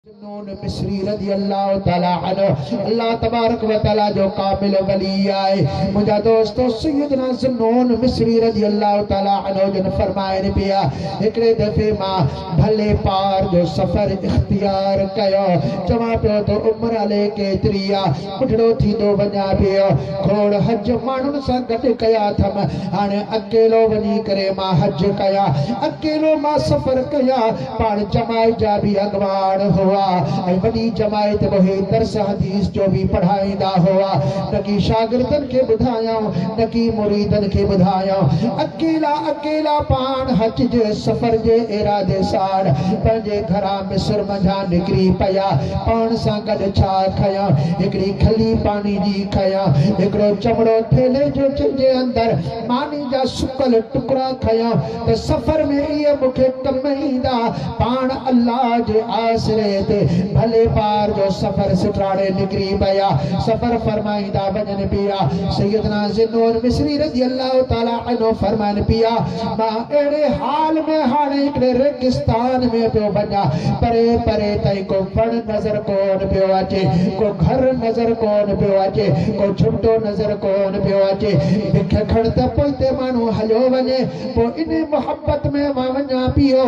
ذوالنون مصري رضي الله تعالٰي عنه الله تبارڪ وتعالٰي جو ڪامل ولي آهي. منهنجا دوستو! سيدنا ذوالنون مصري رضي الله تعالٰي عنه جن فرمائن پيا، هڪڙي دفعي مان ڀلي پار جو سفر اختيار ڪيو، چوان پيو ته عمر الي ڪيتري آهي؟ ٻڍڙو ٿيندو وڃان پيو. کوڙ حج ماڻهن سان گڏ ڪيا اٿم، هاڻي اڪيلو وڃي ڪري مان حج ڪيا. اڪيلو مان سفر ڪيا. پاڻ جماعت جا به اڳواڻ هئا ۽ وڏي جماعت به هي درس حديث جو به پڙهائيندا هئا. نه ڪي شاگردن کي ٻڌايائون، نه ڪي مريدن کي ٻڌايائون. اڪيلا اڪيلا پاڻ حج جي سفر جي ارادي ساڻ پنهنجي گهران. مصر منجهان نڪري پيا، پاڻ سان گڏ ڇا کنيان؟ هڪڙي کلي پاڻي جي کنيان، هڪڙو چمڙو ٿيلهي جو جنهن جي اندر ماني جا سڪل ٽڪرا کنيان ته سفر ۾ اهي مون کي ڪم ايندا، پاڻ الله جي آسري تي ڀلي پار جو سفر سٽراڙي نڪري پيا، سفر فرمائيندا وڃن پيا، سيدنا ذي النون مصري رضي الله تعالٰي عنه فرمائن پيا. مان اهڙي حال ۾ هاڻي هڪڙي ريگستان ۾ پيو وڃان، پري پري تائين ڪو وڻ نظر ڪونه پيو اچي، ڪو گهر نظر ڪونه پيو اچي، ڪو جهٽو نظر ڪونه پيو اچي. بک کڻ ته پوئتي ماڻهو هليو وڃي، پوء ان محبت ۾ مان وڃان پيو،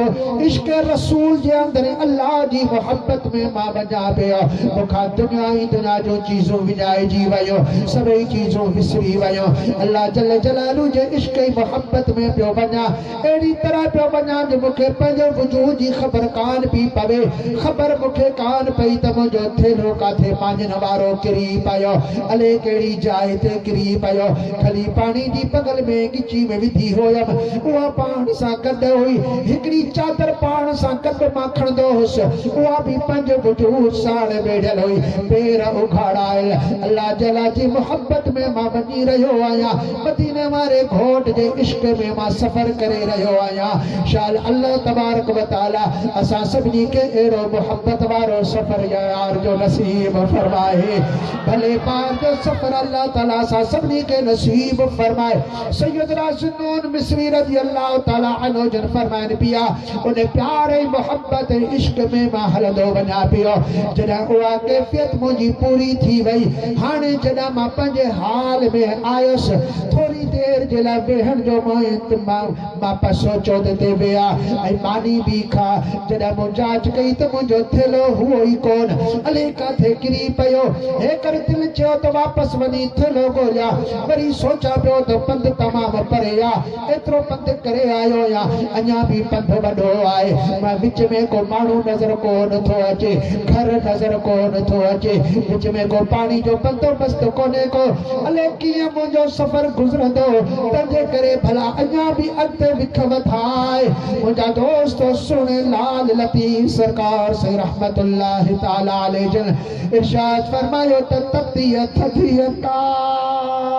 عشق رسول جي اندر الله جي محبت ۾ مان وڃان پيو. مون کان دنيا ۽ دنيا جون چيزون وڃائجي ويون، سڀئي چيزون وسري ويون، الله جل جلاله جي عشق ۽ محبت سنگت ۾ پيو وڃان، اهڙي طرح پيو وڃان جو مون کي پنهنجي وجود جي خبر ڪانه پئي پوي، خبر مون کي ڪانه پئي ته منهنجو ٿيلهو ڪاٿي ماڃن وارو ڪري پيو، الئي ڪهڙي جاء تي ڪري پيو، کلي پاڻي جي بغل ۾ ڳچي ۾ وڌي هيم، اها پاڻ سان گڏ هئي، هڪڙي چادر پاڻ سان گڏ مان کڻندو هوس، اها به پنهنجي وجود ساڻ ويڙهيل هئي، پير اگهاڙايل، الله جل جي محبت ۾ مان وڃي رهيو آهيان. مديني واري گهوٽ جي عشق ۾ مان سفر ڪري رهيو آهيان شال الله تبارڪ و تعالي اسان سڀني کي اهڙو محبت وارو سفر يار جو نصيب فرمائي ڀلي پار جو سفر الله تعالي اسان سڀني کي نصيب فرمائي سيدنا ذوالنون مصري رضي الله تعالي عنه جن فرمائن پيا ان پيار ۽ محبت ۽ عشق ۾ مان هلندو وڃان پيو. جڏهن اها ڪيفيت منهنجي پوري ٿي وئي. هاڻي جڏهن مان پنهنجي حال ۾ آيس، ٿوري دير جي لاء ويهڻ جو مئين ته مان مان پئي سوچيو ته تي ويهه ۽ ماني به کا. جڏهن مون جاچ ڪئي ته منهنجو ٿيلهو هئو ئي ڪونه، الئي ڪاٿي ڪري پيو. هيڪر دل چيو ته واپس وڃي ٿيلهو ڳوليان. وري سوچيان پيو ته پنڌ تمام پري آ. ايترو پنڌ ڪري آيو يا اڃا به پنڌ وڏو آهي مان وچ ۾ ڪو ماڻهو نظر ڪو نه ٿو اچي گهر نظر ڪو نه ٿو اچي وچ ۾ ڪو پاڻي جو بندوبست ڪونهي ڪو الئي ڪيئن منهنجو سفر گذرندو تنهنجي ڪري ڀلا اڃا به اڳتي وک وڌا آهي منهنجا دوست سهڻي لال لطيف سرڪار سائين رحمت الله تعالي عليه جن ارشاد فرمايو ته تتيء ٿڌيء ڪاهه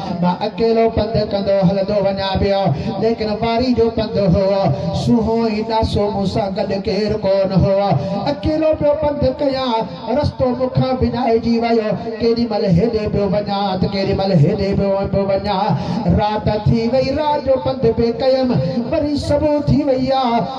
مان اڪيلو پنڌ ڪندو هلندو وڃان پيو، ليڪن واري جو پنڌ هو، سونهون ۽ ڏاسو، مون سان گڏ ڪير ڪونه هو، اڪيلو پيو پنڌ ڪيان، رستو مون کان وڃائجي ويو، ڪيڏي مهل هيڏي پيو وڃان ته ڪيڏي مهل هيڏي پيو وڃان، رات ٿي وئي، رات جو پنڌ به ڪيم، وري صبح ٿي وئي آ.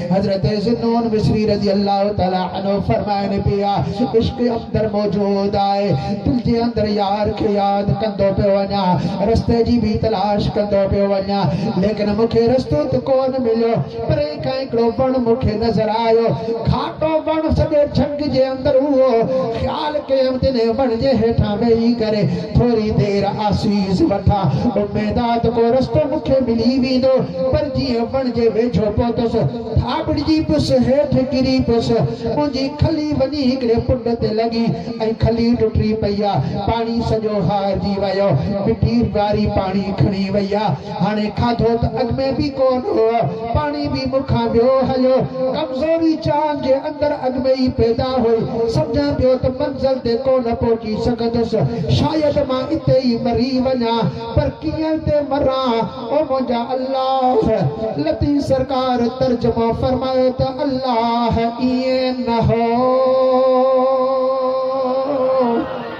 حضرت ذو النون مصري رضي الله تعالٰي عنه فرمائن پيا، عشق اندر موجود آهي، دل جي اندر يار کي ياد ڪندو پيو وڃان، رستي جي به تلاش ڪندو پيو وڃان، ليڪن مون کي رستو ته ڪونه مليو، پري کان هڪڙو وڻ مون کي نظر آيو، گهاٽو وڻ سڄي جهنگ جي پر اهو خيال ڪيم ته انهيء وڻ جي هيٺان ويهي ڪري ٿوري دير آسيس وٺان. اميد آ ته ڪو رستو مون کي ملي ويندو. پر جيئن وڻ جي ويجهو پهتس، ٿاٻڙجي پيس، هيٺ ڪري پيس. منهنجي کلي وڃي هڪڙي پنڊ تي لڳي ۽ کلي ٽٽي پئي آ. پاڻي سڄو هارجي ويو. مٽي واري پاڻي کڻي وئي آ. هاڻي کاڌو ته اڳ ۾ به ڪونه هو، پاڻي به مون کان ٻيو هليو. ڪمزوري چانگ جي اندر اڳ ۾ ئي پيدا هئي. سمجهان پيو ته منزل تي ڪونه پهچي سگهندس. شايد مان اتي ئي مري وڃان. پر ڪيئن تي مران؟ او منهنجا الله! لطيف سرڪار ترجمو فرمايو ته الله ايئن نه هو.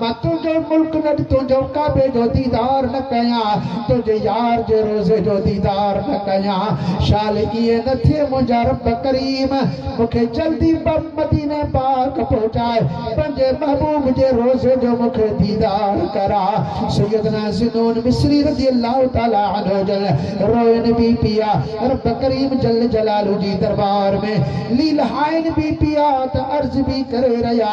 مان تنهنجو ملڪ نه ڏٺو جو ڪعبي جو ديدار نه ڪيان تنهنجي يار جي روضي جو ديدار نه ڪيان شال ائين نه ٿئي منهنجا رب ڪريم مون کي جلدي مديني پاڪ پهچاء پنهنجي محبوب جي روضي جو مون کي ديدار ڪراء سيدنا ذنون مصري رضي الله تعالٰي عنه جل روئن بي پيا رب ڪريم جل جلاله جي دربار ۾ ليلهائن بي پيا ته عرض بي ڪري رهيا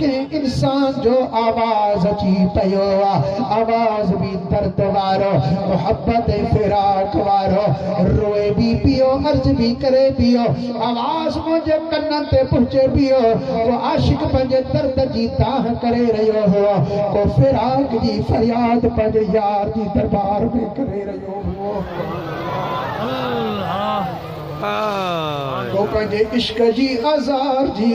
ڪنهن انسان جو آواز اچي پيو آ، آواز به درد وارو، محبت ۽ فراق وارو، روئي به پيو، عرض به ڪري پيو، آواز منهنجي ڪنن تي پهچي پيو، ڪو عاشق پنهنجي درد جي دانهن ڪري رهيو هو، ڪو فراق جي فرياد پنهنجي يار جي دربار ۾ ڪري رهيو هو، ڪو پنهنجي عشق جي آزار جي.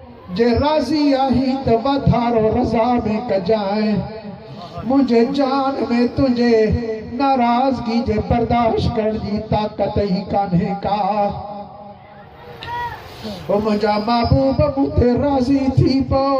جي راضي آهي ته واڌارو رضا ۾ ڪجانء، منهنجي جان ۾ تنهنجي ناراضگي جي برداشت ڪرڻ جي طاقت ئي ڪانهي ڪا. او منهنجا محبوب مون تي راضي ٿي پئو.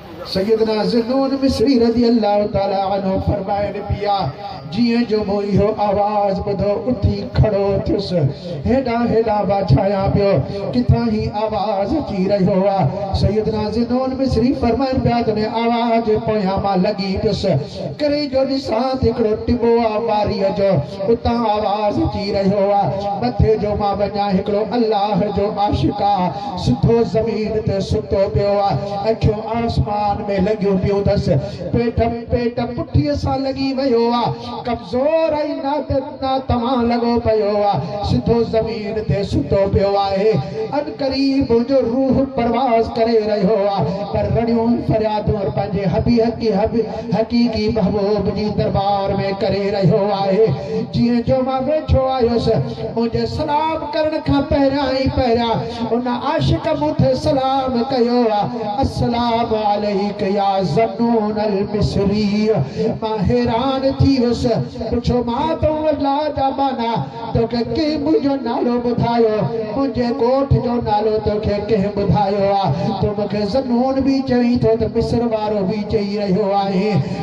سيدنا ذنون مصري رضي الله تعالٰي عنه فرمائن پيا، جيئن جو مون اهو آواز ٻڌو، اٿي کڙو ٿيس، هيڏانهن هيڏانهن واجهايان پيو، ڪٿان هي آواز اچي رهيو آ؟ سيدنا ذنون مصري فرمائن پيا ته انهي آواز جي پويان مان لڳي پيس، ڪري جو ڏسان ته هڪڙو ٽٻو آ واريء جو، اتان آواز اچي رهيو آ، مٿي جو مان وڃان هڪڙو الله جو عاشق آ، سڌو زمين تي ستو پيو آ، اکيون آسمان ۾ لڳيون پيون ٿس، پيٽ پيٽ پٺيء سان لڳي ويو آ، ڪمزور ۽ ناتوانا لڳو پيو آ، سڌو زمين تي ستو پيو آهي، عنقريب ان جو روح پرواز ڪري رهيو آ، پر رڙيون فريادون پنهنجي حبي حقي حبي حقيقي محبوب جي دربار ۾ ڪري رهيو آهي، جنهن جو مان ويٺو آهيس. منهنجي سلام ڪرڻ کان پهريان ئي پهريان ان عاشق مون تي سلام ڪيو آ، السلام عليك يا ذنون المصري مان حيران ٿي ويس، پڇيو مان تون الله جا ٻانها توکي ڪنهن منهنجو نالو ٻڌايو، منهنجي ڳوٺ جو نالو توکي ڪنهن ٻڌايو آ، تون مونکي ذنون به چوين ٿو ته مصر وارو به چئي رهيو آهين.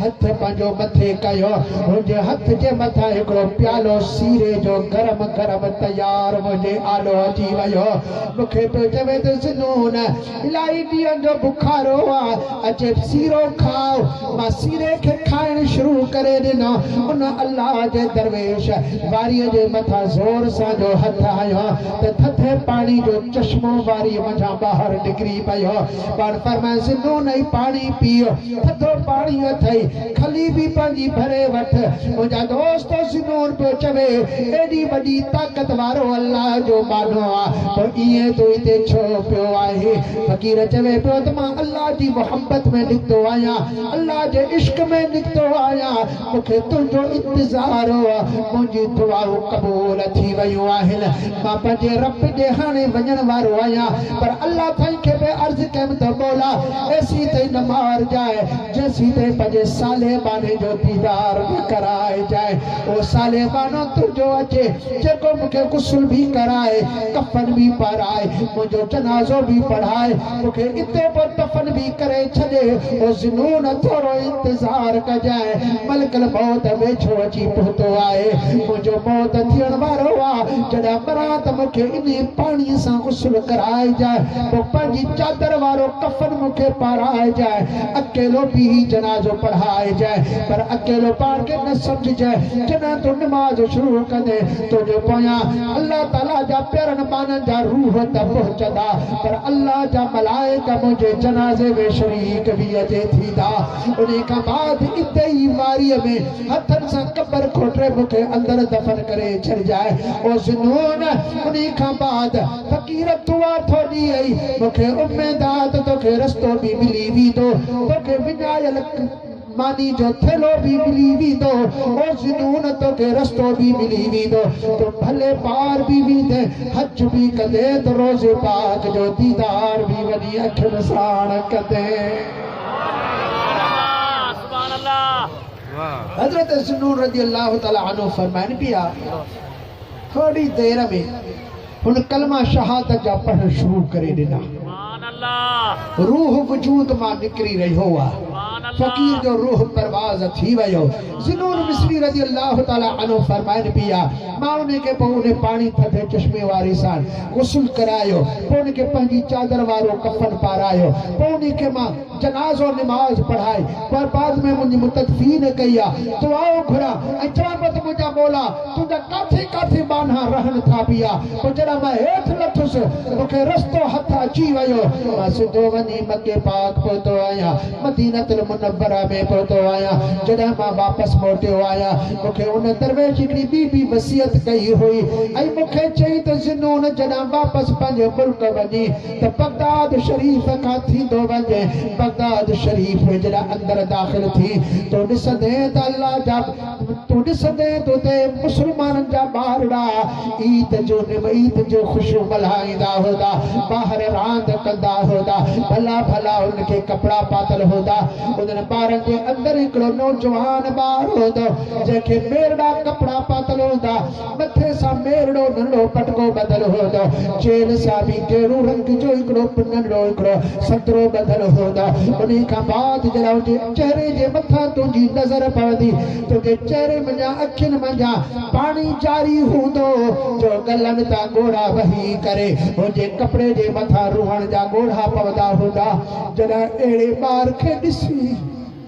هٿ پنهنجو مٿي ڪيو. هن جي هٿ جي مٿان هڪڙو پيالو سيري جو گرم گرم تيار منهنجي آڏو اچي ويو. مون کي پيو چوي ته سنون، الائي ڏينهن جو بخارو آ، اچي سيرو کاء. مان سيري کي کائڻ شروع ڪري ڏنو. ان الله جي درويش واريء جي مٿان زور سان جو هٿ هنيو ته ٿڌي پاڻي جو چشمو واريء منجهان ٻاهر نڪري پيو. پاڻ فرمائي ذنون اي پاڻي پيء ٿڌو پاڻي اٿئي کلي به پنهنجي ڀري وٺ منهنجا دوستو ذنون پيو چوي ايڏي وڏي طاقت وارو الله جو ٻانهو آ پوء ائين تون هتي ڇو پيو آهين فقير چوي پيو ته مان الله جي محبت ۾ نڪتو آهيان الله جي عشق ۾ نڪتو آهيان مون کي تنهنجو انتظار هو. منهنجون دعائون قبول ٿي ويون آهن. مان پنهنجي رب ڏي هاڻي وڃڻ وارو آهيان. پر الله سائين کي به عرض ڪيم ته مولا! ايسين تائين نه مارجانء، جيسين تائين پنهنجي صالح ٻانهي جو ديدار نه ڪرائجانء. اهو صالح ٻانهو تنهنجو اچي، جيڪو مون کي غسل به ڪرائي، ڪفن به پارائي، منهنجو جنازو به پڙهائي، مون کي اتي به دفن به ڪري ڇڏي او ذنون ٿورو انتظار ڪجانء ملڪ الموت ويجهو اچي پهتو آهي منهنجو موت ٿيڻ وارو آ جڏهن مران ته مون کي انهي پاڻي سان غسل ڪرائجانء پوء پنهنجي چادر وارو ڪفن مون کي پارائجانء اڪيلو بيهي جنازو پڙهائجانء پر اڪيلو پاڻ کي نه سمجهجانء جڏهن تون نماز شروع ڪندين تنهنجي پويان الله تعالي جا پيارن ٻانهن جا روح ته پهچندا پر الله جا ملائڪ منهنجي جنازي ۾ شريڪ به اچي ٿيندا. انهي کان بعد اتي ئي واريء ۾ هٿن سان قبر کوٽري مون کي اندر دفن ڪري ڇڏجاء. او ذوالنون! انهي کان بعد فقير دعا ٿو ڏئي ۽ مون کي اميد آ ته توکي رستو به ملي ويندو. توکي وڃايل. ماني جو ٿيلهو به ملي ويندو، او ذنون توکي رستو به ملي ويندو، تون ڀلي پار به ويندين، حج به ڪندين ته روضي پاڪ جو ديدار به وڃي اکين ساڻ ڪندين. حضرت ذنون رضي الله تعالٰي عنه فرمائن پيا، ٿورڙي دير ۾. هن ڪلمه شهادت جا پڙهڻ شروع ڪري ڏنا. روح وجود مان نڪري رهيو هو. فقير جو روح پرواز ٿي ويو. ذنون مصري رضي الله تعالٰي عنه فرمائن پيا، مان انهي کي پوء انهي پاڻي ٿڌي چشمي واري سان غسل ڪرايو، پوء ان کي پنهنجي چادر وارو ڪفن پارايو، پوء انهي کي مان. جنازو نماز پڙهائي پر بعد ۾ منهنجي مدت في نه ڪئي آ دعا گهران ۽ چوان پيو ته منهنجا مولا تنهنجا ڪاٿي ڪاٿي ٻانها رهن ٿا پيا پوء جڏهن مان هيٺ لٿس مون کي رستو هٿ اچي ويو مان سڌو وڃي مڪي پاڪ پهتو آهيان مدينة المنوره ۾ پهتو آهيان جڏهن مان واپس موٽيو آهيان مون کي ان درويش هڪڙي ٻي به وصيت ڪئي هئي ۽ مون کي چيائين ته ذو نون جڏهن واپس پنهنجي ملڪ وڃين ته بغداد شريف کان ٿيندو وڃ، بغداد شريف جڏهن اندر داخل ٿي، تون ڏسندين ته الله جا تون ڏسندين ته اتي مسلمانن جا ٻارڙا عيد جو عيد جون خوشيون ملهائيندا هوندا، ٻاهر راند ڪندا هوندا، ڀلا ڀلا انهن کي ڪپڙا پاتل هوندا، انهن ٻارن جي اندر هڪڙو نوجوان ٻار هوندو، جنهن کي ميرڙا ڪپڙا پاتل هوندا. مٿي سان ميرڙو ننڍو پٽڪو ٻڌل هوندو هو، چيلهه سان به گيرو رنگ جو هڪڙو ننڍڙو هڪڙو سترو ٻڌل هوندو هو، انهي کان بعد جڏهن ان جي چهري جي مٿان تنهنجي نظر پوندي، تنهنجي چهري منجهان اکين منجهان پاڻي جاري هوندو هو، جو ڳلن تان ڳوڙها وهي ڪري هن جي ڪپڙي جي مٿان روئڻ جا ڳوڙها پوندا هوندا. جڏهن اهڙي ٻار کي ڏسي.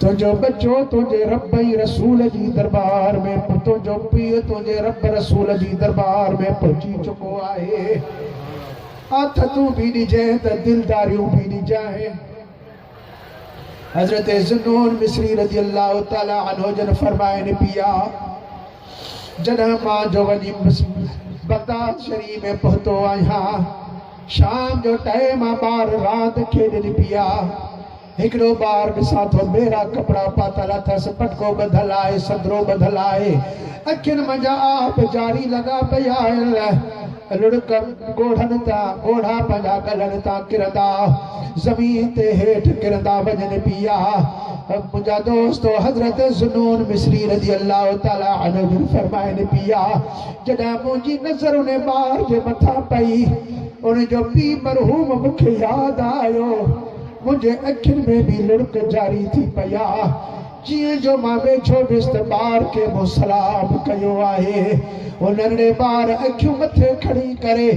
تنهنجو ٻچو تنهنجي رب ۽ رسول جي درٻار ۾ به تنهنجو پيء تنهنجي رب رسول جي درٻار ۾ پهچي چڪو آهي آٿتون به ڏجانء ته دلداريون به ڏجانء حضرت ذنون مصري رضي الله تعالٰي عنه جن فرمائن پيا جڏهن مان جو وڃي بغداد شريف ۾ پهتو آهيان شام جو ٽهي مان ٻار راند کيڏن پيا هڪڙو ٻار ڏسان ٿو، ٻيرا ڪپڙا پاتل اٿس، پٽڪو ٻڌل آهي، سدرو ٻڌل آهي، اکين منجهان آهه به جاري لڳا پئي آهن، لڙڪ ڳوڙهن تان ڳوڙها پنهنجا ڳلن تان ڪرندا زمين تي هيٺ ڪرندا وڃن پيا. منهنجا دوستو! حضرت ذو نون مصري رضي الله تعالٰي عنه جن فرمائن پيا، جڏهن منهنجي نظر انهي ٻار جي مٿان پئي، ان جو پي مرحوم مون کي ياد آيو، منهنجي اکين ۾ به لڙڪ جاري ٿي پئي آ، جيئن جو مان ويجهو ويس ته ٻار ڪنهن مون سلام ڪيو آهي. هو نرڙي ٻار اکيون مٿي کڻي ڪري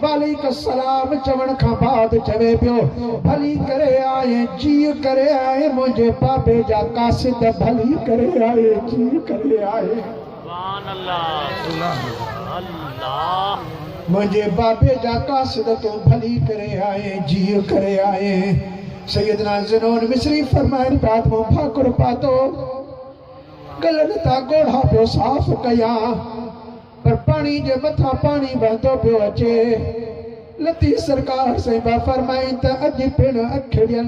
وعليڪ السلام چوڻ کان بعد چوي پيو، ڀلي ڪري آئين جيء ڪري آئين منهنجي بابي جا قاصد ڀلي ڪري آئين جيء ڪري آئين. منهنجي بابي جا قاصد تون ڀلي ڪري آئين جيء ڪري آئين سيدنا ذنون مصري فرمائن پيا ته مون ڀاڪر پاتو گلن تان ڳوڙها پيو صاف ڪيان پر پاڻي جي مٿان پاڻي وهندو پيو اچي لطيف سرڪار سائين پيا فرمائن ته اڄ پڻ اکڙين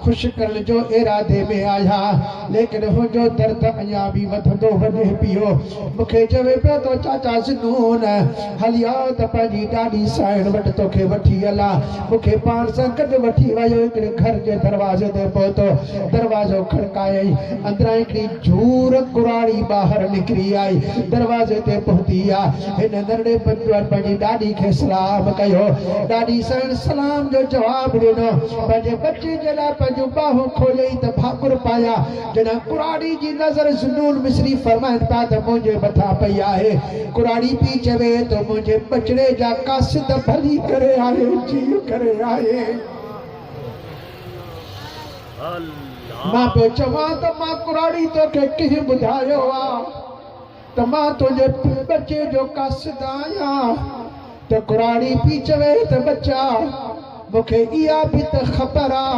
خوش ڪرڻ جو ارادي ۾ آهيان ليڪن هنجو درد اڃان به وڌندو وڃي پيو مون کي چوي پيو ته چاچا ذنون هلي آء ته پنهنجي ڏاڏي سائڻ وٽ توکي وٺي هلان مون کي پاڻ سان گڏ وٺي ويو هڪڙي گهر جي دروازي تي پهتو دروازو کڙڪايائين اندران هڪڙي جهور ڪراڙي ٻاهر نڪري آئي دروازي تي پهتي آء هن ڌرڙي پنجوٽ پنهنجي ڏاڏي کي سلام ڪيو. ڏاڏي سڻ سلام جو جواب ڏنو. پنهنجي ٻچي جي لاء پنهنجون ٻانهون کوليائين ته ڀاڪر پايان. جڏهن ڪراڙي جي نظر زنون مصري فرمائن پيا ته منهنجي مٿان پئي آهي. ڪراڙي پيء چوي ٿو منهنجي ٻچڙي جا قاصد ڀلي ڪري آهي جيء ڪري آهي. مان پيو چوان ته مان ڪراڙي توکي ڪنهن ٻڌايو آ. ته مان تنهنجي ٻچي جو قاصد آهيان ته ڪراڙي پئي چوي ته ٻچا مون کي اها به ته خبر آ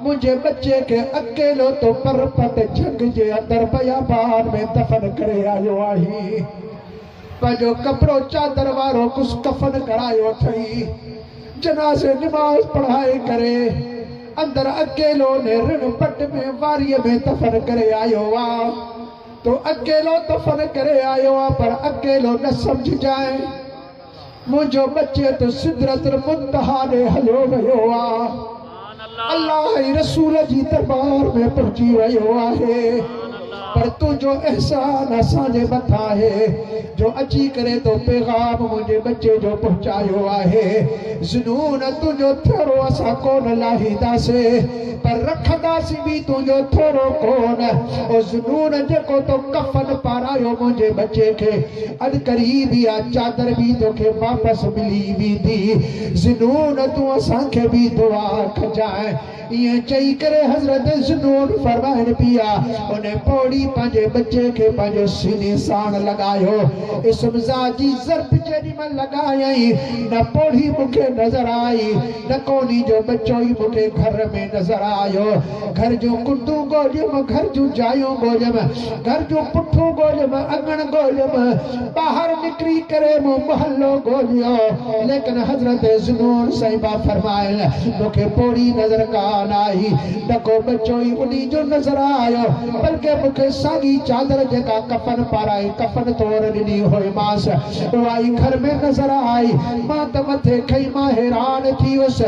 منهنجي ٻچي کي اڪيلو تو پرپٽ جهنگ جي اندر بيابان ۾ دفن ڪري آيو آهين پنهنجو ڪپڙو چادر وارو ڪس ڪفن ڪرايو اٿئي جنازي نماز پڙهائي ڪري اندر اڪيلو انهي رڻ پٽ ۾ واريء ۾ دفن ڪري آيو آ. تون اڪيلو دفن ڪري آيو آهين پر اڪيلو نه سمجهجانء. منهنجو ٻچي ته سدرة المنتهيٰ ڏي هليو ويو آهي. الله ۽ رسول جي درٻار ۾ پهچي ويو آهي. پر تنهنجو احسان اسان جي مٿان آهي جو اچي ڪري تو پيغام منهنجي ٻچي جو پهچايو آهي. ذوالنون تنهنجو ٿهڙو اسان ڪونه لاهينداسين. پر رکنداسين به تنهنجو ٿورو ڪون او ذنون جيڪو تو ڪفن پارايو منهنجي ٻچي کي اڄ قريب ئي اها چادر به توکي واپس ملي ويندي ذنون تون اسان کي به دعا ڪجانء ائين چئي ڪري حضرت ذنون فرمائن پيا ان پوڙهي پنهنجي ٻچي کي پنهنجي سيني ساڻ لڳايو اسم ذات جي ضرب جيڏي مهل لڳايائين نه پوڙهي مون کي نظر آئي نڪوني جو ٻچو ئي مون کي گهر ۾ نظر آيو. گهر جون ڪنڊون ڳوليم، گهر جون جايون ڳوليم، گهر جون پٺون ڳوليم، اڱڻ ڳوليم، ٻاهر نڪري ڪري مون محلو ڳوليو، ليڪن حضرت ذوالنور سائين با فرمائل مون کي پوڙهي نظر ڪانه آئي. نڪو ٻچو ئي انهي جو نظر آيو، بلڪه مون کي ساڳي چادر جيڪا ڪفن پارائي ڪفن طور ڏني هئيمانس، سوائي گهر ۾ نظر آئي. مان ته مٿي کئي مان حيران ٿي ويس.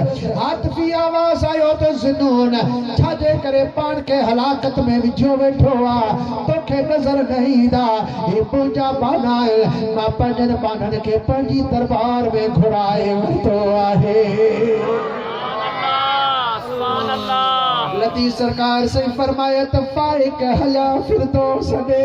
عاطفي آواز آيو ته ذنون ڇا جي ڪري پاڻ کي هلاڪت ۾ وجهيو ويٺو آ. توکي نظر نه ايندا. هي منهنجا ٻانها آهن. مان پنهنجن ٻانهن کي پنهنجي درٻار ۾ گهرائي ورتو آهي. لطيف سرڪار سائين فرمايو ته فائق هليا فردوس ڏي.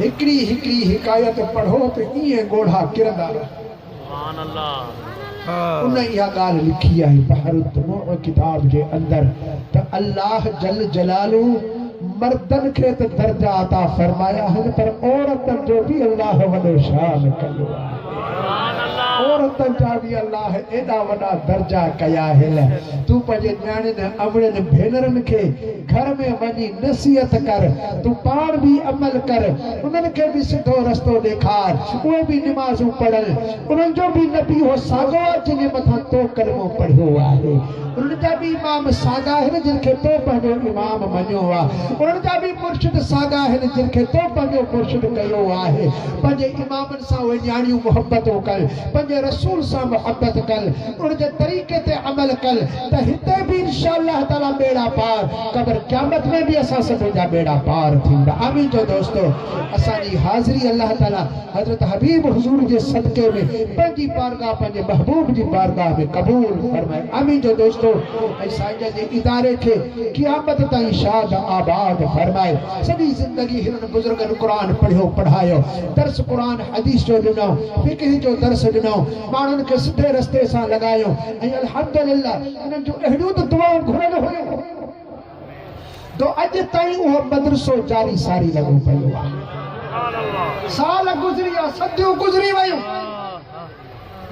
هڪڙي هڪڙي حڪايت پڙهو ته ائين ڳوڙها ڪرندا رهن. ان اها ڳالهه لکي آهي بحر الدموع ڪتاب جي اندر ته الله جل جلاله مردن کي ته درجا عطا فرمايا آهن پر عورتن جو به الله وڏو شان ڪيو آهي. عورتن جا به الله ايڏا وڏا درجا ڪيا آهن. تون پنهنجي نياڻين ۽ امڙين ڀينرن کي گهر ۾ وڃي نصيحت ڪر. تون پاڻ به عمل ڪر. انهن کي به سڌو رستو ڏيکار. اهي به نمازون پڙهن. انهن جو به نبي اهو ساڳيو آهي جنهن جي مٿان تو ڪلمو پڙهيو آهي. انهن جا به امام ساڳا آهن جن کي تو پنهنجو امام مڃيو آهي. انهن جا به مرشد ساڳا آهن جن کي تو پنهنجو مرشد ڪيو آهي. پنهنجي امامن. سان اهي نياڻيون محبتون ڪن، پنهنجي رسول سان محبت ڪن، ان جي طريقي تي عمل ڪن ته هتي به انشاء الله تعالي ٻيڙا پار، قبر قيامت ۾ به اسان سڀن جا ٻيڙا پار ٿيندا. آمين چئو دوستو. اسان جي حاضري الله تعالي حضرت حبيب حضور جي صدقي ۾ پنهنجي بارگاهه پنهنجي محبوب جي بارگاهه ۾ قبول فرمائي. آمين چئو دوستو ۽ سائين جن جي اداري کي قيامت تائين شاد آباد فرمائي. سڄي زندگي هنن بزرگن قرآن پڙهيو پڙهايو، درس قرآن حديث جو ڏنو، فقه جو درس ڏنو، ماڻهن کي سڌي رستي سان لڳايو ۽ الحمد لله انهن جون اهڙيون ته دعائون گهريل هيون جو اڄ تائين اهو مدرسو جاري ساري لڳو پيو آهي. سال گذريا، صديون گذري ويون.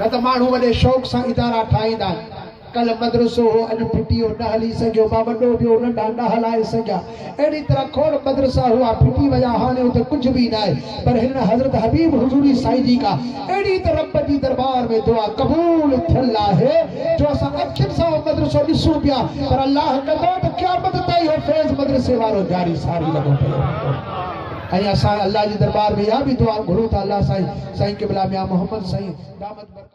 نه ته ماڻهو وڏي شوق سان ادارا ٺاهيندا آهن. ڪلهه مدرسو هو، اڄ پي ٽي او نه هلي سگهيو، ڀا وڏو به هو، ننڍا نه هلائي سگهيا. اهڙي طرح کوڙ مدرسا هئا، ڦٽي ويا، هاڻي اتي ڪجهه به ناهي. پر هنن حضرت حبيب حضوري سائين جي ڪا اهڙي ته رب جي دربار ۾ دعا قبول ٿيل آهي، جو اسان اکين سان اهو مدرسو ڏسون پيا، پر الله ڪندو ته قيامت تائين اهو فيض مدرسي وارو جاري ساري لڳو پيو هوندو. ۽ اسان الله جي درٻار ۾ اها به دعا گهرون ٿا الله سائين سائين قبلا ميان محمد سائين دامت برڪاته